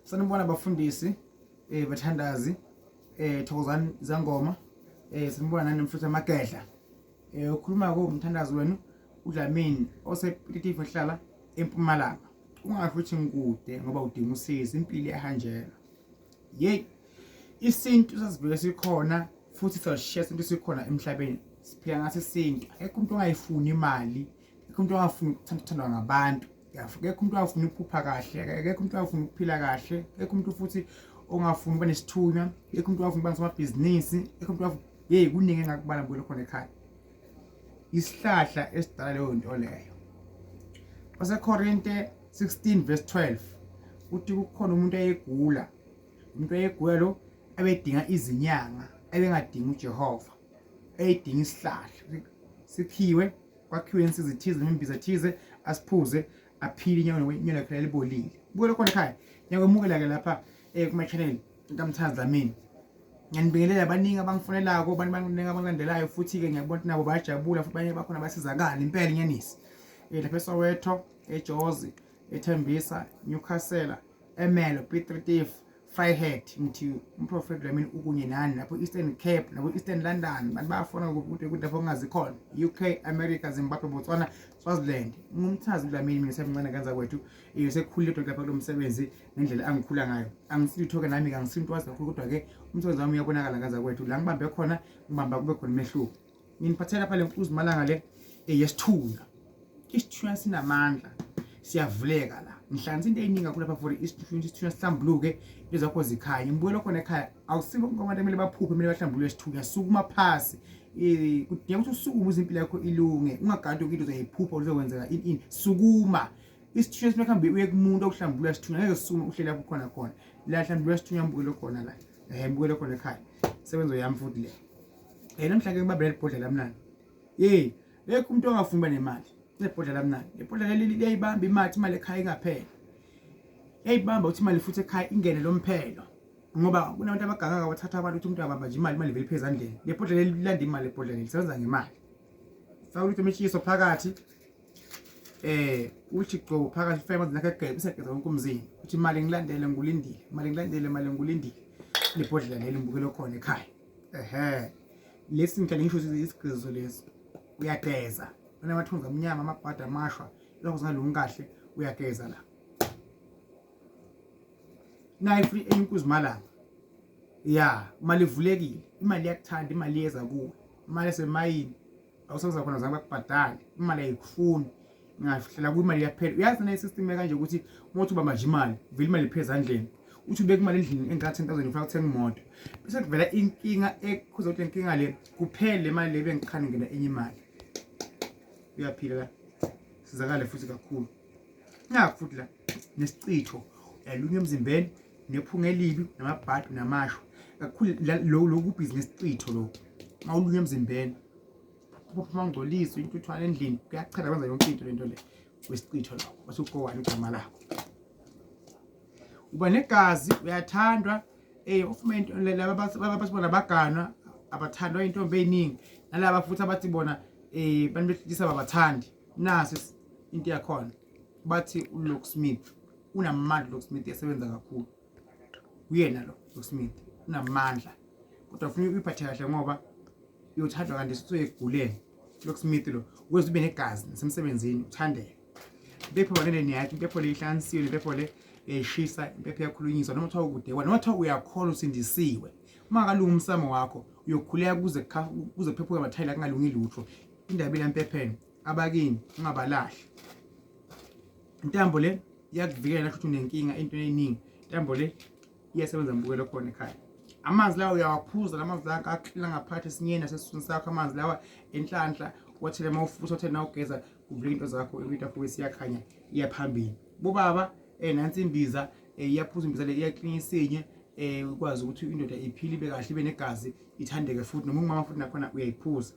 sanibona bafundisi eh bathandazi eh thokozani zangoma eh sanibona nani mfuthu amagedla eh ukhuluma ko umthandazi wenu uDlamini osepititive ohlala empumalanga ungasho ukuthi ngikude ngoba udinga usizo impilo iyahanjelwa yeyi isintu sasivele sikhona futhi sasishiya isintu sikhona emhlabeni siphila ngaso isintu akekho umuntu ongayifuni imali akekho umuntu ongafuni ukuthandwa ngabantu akekho umuntu ongafuni ukuphupha kahle akekho umuntu ongafuni ukuphila kahle akekho umuntu futhi ongafuni uba nesithunywa akekho umuntu ongafuni uba ngusomabhizinisi akekho umuntu ongafuni yeyi kuningi engakubala ngibuyele khona ekhaya isihlahla esidala leyo nto leyo basekorinte 16 verse 12 uthi kukhona umuntu ayegula umuntu ayegula lo abedinga izinyanga ebengadingi uJehova eyidinga isihlahla sikhiwe kwakhiwe insiza ethize noma imbiza ethize asiphuze aphile inyanga inyanga yakhe libolile bukela khona ekhaya nyakwemukela ke lapha eh kuma channel kamthanzi lamini ngiyanibingelela baningi abangifunelako abantu baningi abangilandelayo futhi ke ngiyabona ukuthi nabo bayajabula futhi banye bakhona basizakala impela inyanisi eh lapha eSoweto eJozi ethembisa Newcastle Emelo Piet Retief Vryheid ngithi umprofethi lwamini ukunye nani lapho Eastern Cape nabo Eastern London bantu bayafona ukuthi ukuthi lapho kungazi khona UK America Zimbabwe Botswana Swaziland ngumthazi lwamini mina semncane kanza kwethu iyo sekukhulile into lapha kulo msebenzi ngendlela angikhula ngayo angisitho ke nami kangisinto wazi kakhulu kodwa ke umsebenzi wami uyabonakala kanza kwethu la ngibambe khona ngibamba kube khona umehluko nginiphathela lapha le nkuzi malanga le eyesithunga isithunywa sinamandla siyavuleka la ngihlanganisa into eyiningi kakhulu lapha for isithunywa isithunywa sihlambuluke into zakho zikhanye ngibuyela khona ekhaya awusingo bonke abantu kumele baphuphe kumele bahlambulule isithunywa sukuma phasi um kudinga ukuthi usukume uze impilo yakho ilunge ungagadi yoke into uzoyiphupha uzokwenzeka ini ini sukuma isithunywa sifuna kuhambe uye kumuntu okuhlambulula isithunywa ngeke sisukume uhlele lapho khona khona la hlambulula isithunywa mbukelo khona la um mbukelo khona ekhaya sebenzo yami futhi le Eh namhlanje ngibambe ibhodlela mnandi. Hey, ekho umuntu ongafuni uba nemali. Nebhodlela mnandi. Ibhodlela leli liyayibamba imali imali ekhaya ingaphela. Yayibamba uthi imali futhi ekhaya ingene lomphelo. Ngoba kunabantu abagangaka bathatha abantu ukuthi umuntu abamba nje imali imali vele phezulu andleni. Lebhodlela lilanda imali lebhodlela lisebenza ngemali. Faka ukuthi imitshiso phakathi. Eh, uthi gqo phakathi fema zinakhe egebe segeza wonke umzini. Uthi imali ngilandele ngulindile. Imali ngilandele imali ngulindile. Lebhodlela leli ngibukele khona ekhaya. ehe lesi ngithanda ngisho ukuthi isigqizo lesi uyageza unamathunzi amnyama amabhadi amashwa lokho singalungi kahle uyageza la naye futhi enye inkuzimalanga ya imali ivulekile imali iyakuthanda imali iyeza kuwe imali esemayini awusoze khona zange bakubhadale imali ayikufuni ngahlela kwimali iyaphela uyazi nayo system kanje ukuthi uma uthi ubamba nje imali vele imali iphela ezandleni uthi ubeka imali endlini engaka 10000 ufuna ukuthenga imoto bese kuvela inkinga ekhuza ukuthi inkinga le kuphele le mali le bengiqhane ngena enye imali uyaphila la sizakale futhi kakhulu Nakho futhi la nesichitho yalunywa emzimbeni nephunga elibi namabhadi namasho kakhulu lokhu bhizinisi citho lokhu uma ulunywa emzimbeni uphuma ngcolisa intuthwane endlini kuyachela kwenza yonke into lento le wesicitho lokho base ugowani igama lakho uba negazi uyathandwa eh ofuma into laba basibona baganwa abathandwa intombi eziningi nalaba futhi abathi bona eh bantu behlisa babathandi nasi into yakhona bathi uLock Smith unamandla uLock Smith yasebenza kakhulu uyena lo Lock Smith unamandla kodwa ufuna uyiphathe kahle ngoba uyothathwa kanti sithiwe eguleni Lock Smith lo ukwenza ube negazi nasemsebenzini uthandeke impepho banele niyakhe impepho le ihlansiwe impepho le yayishisa impepho yakhulunyiswa noma kuthiwa ukude kwana noma kuthiwa uyakhona usindisiwe uma kalungi umsamo wakho uyokhuleka kuze kuze kuphephuke amathayi la kungalungi lutho indaba ilampepheni abakini ungabalahli intambo le iyakuvikela ukuthi unenkinga into eningi intambo le iyasebenza mbukelo khona ekhaya amanzi lawa uyawaphuza la manzi lawa aklina ngaphathi esinyeni nasesiswini sakho amanzi lawa enhlanhla wathele uma ufuthi wathele na ugeza kuvuleka into zakho into yakho wesiyakhanya iyaphambili bobaba um eh, nansi imbiza um iyaphuza imbiza le iyaklina isinye um ukwazi ukuthi indoda iphile ibe kahle ibe negazi ithandeke futhi noma ungumama futhi nakhona uyayiphuza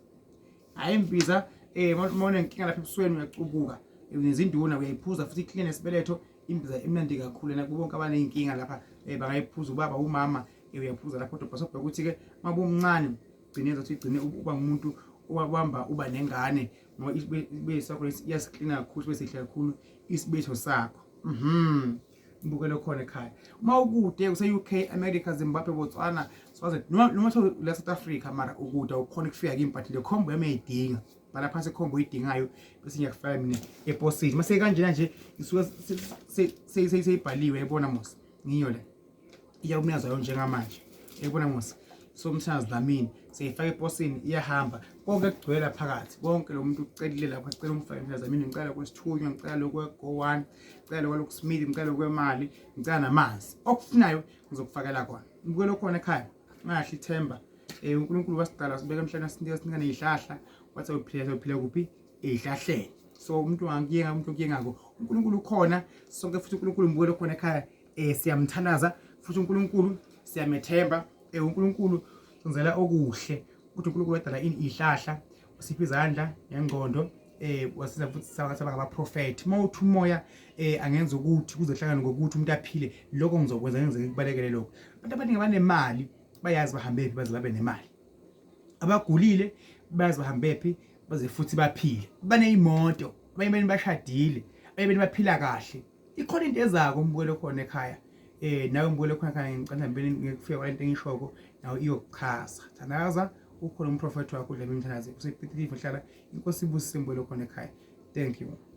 hayi mbiza eh mona inkinga lapha ebusweni uyacubuka nezinduna uyayiphuza futhi iclean esibeletho imbiza emnandi kakhulu na kubonke abanezinkinga lapha eh bangayiphuza ubaba umama eh, uyaphuza lapho kodwa sobheka ukuthi ke mabumncane gcine zothi igcine uba ngumuntu owabamba uba nengane ngoba isibetho sakho iyasiklina kakhulu sibe sihle kakhulu isibetho sakho mhm ngibukele khona ekhaya uma ukude kuse-uk america zimbabwe botswana swazi noma sho la south africa mara ukude awukhona ukufika kimi but le khombo yami uyayidinga bhala phansi ikhombo oyidingayo bese ngiyakufaka mina eposini mase kanjena nje isuke seyibhaliwe yayibona mos ngiyo le iyakumyazayo njengamanje ekubona ngosi somthandazi namini seyifaka eposini iyahamba konke kugcwela phakathi konke lo muntu ucelile lapho acela umfake mthandazi namini ngicela kwesithunywa ngicela lokwe-go-one ngicela lokwelokusimili ngicela lokwemali ngicela namanzi okufunayo ngizokufakela kona ngibukelo khona ekhaya ngahle ithemba um unkulunkulu wasidala sibeka emhlabeni asinika sinika neyihlahla wathi awuphila sawuphila kuphi eyihlahleni so umuntu wangiyenga umuntu okuyengako unkulunkulu ukhona sonke futhi unkulunkulu mbukelo khona ekhaya eh siyamthanaza futhi uNkulunkulu siyamethemba eh uNkulunkulu senzela okuhle ukuthi uNkulunkulu wadala ini ihlahla usiphi izandla ngengqondo eh wasiza futhi saba ngabaprofethi uma uthi umoya eh angenza ukuthi kuzohlangana ngokuthi umuntu aphile lokho ngizokwenza ngenzeke kubalekele lokho abantu abaningi abanemali bayazi bahambephi baze babe nemali abagulile bayazi bahambephi baze futhi baphile baneyimoto abanye bashadile abanye baphila kahle ikhona into ezako umbukelo khona ekhaya eh nawe umbukelo khona ekhaya ngicela ngibene ngikufika kwalento engishoko nawe iyokuchaza thandaza ukhona umprofethi wakho udlamini thandaza usepitilive hlala inkosi ibusise umbukelo khona ekhaya thank you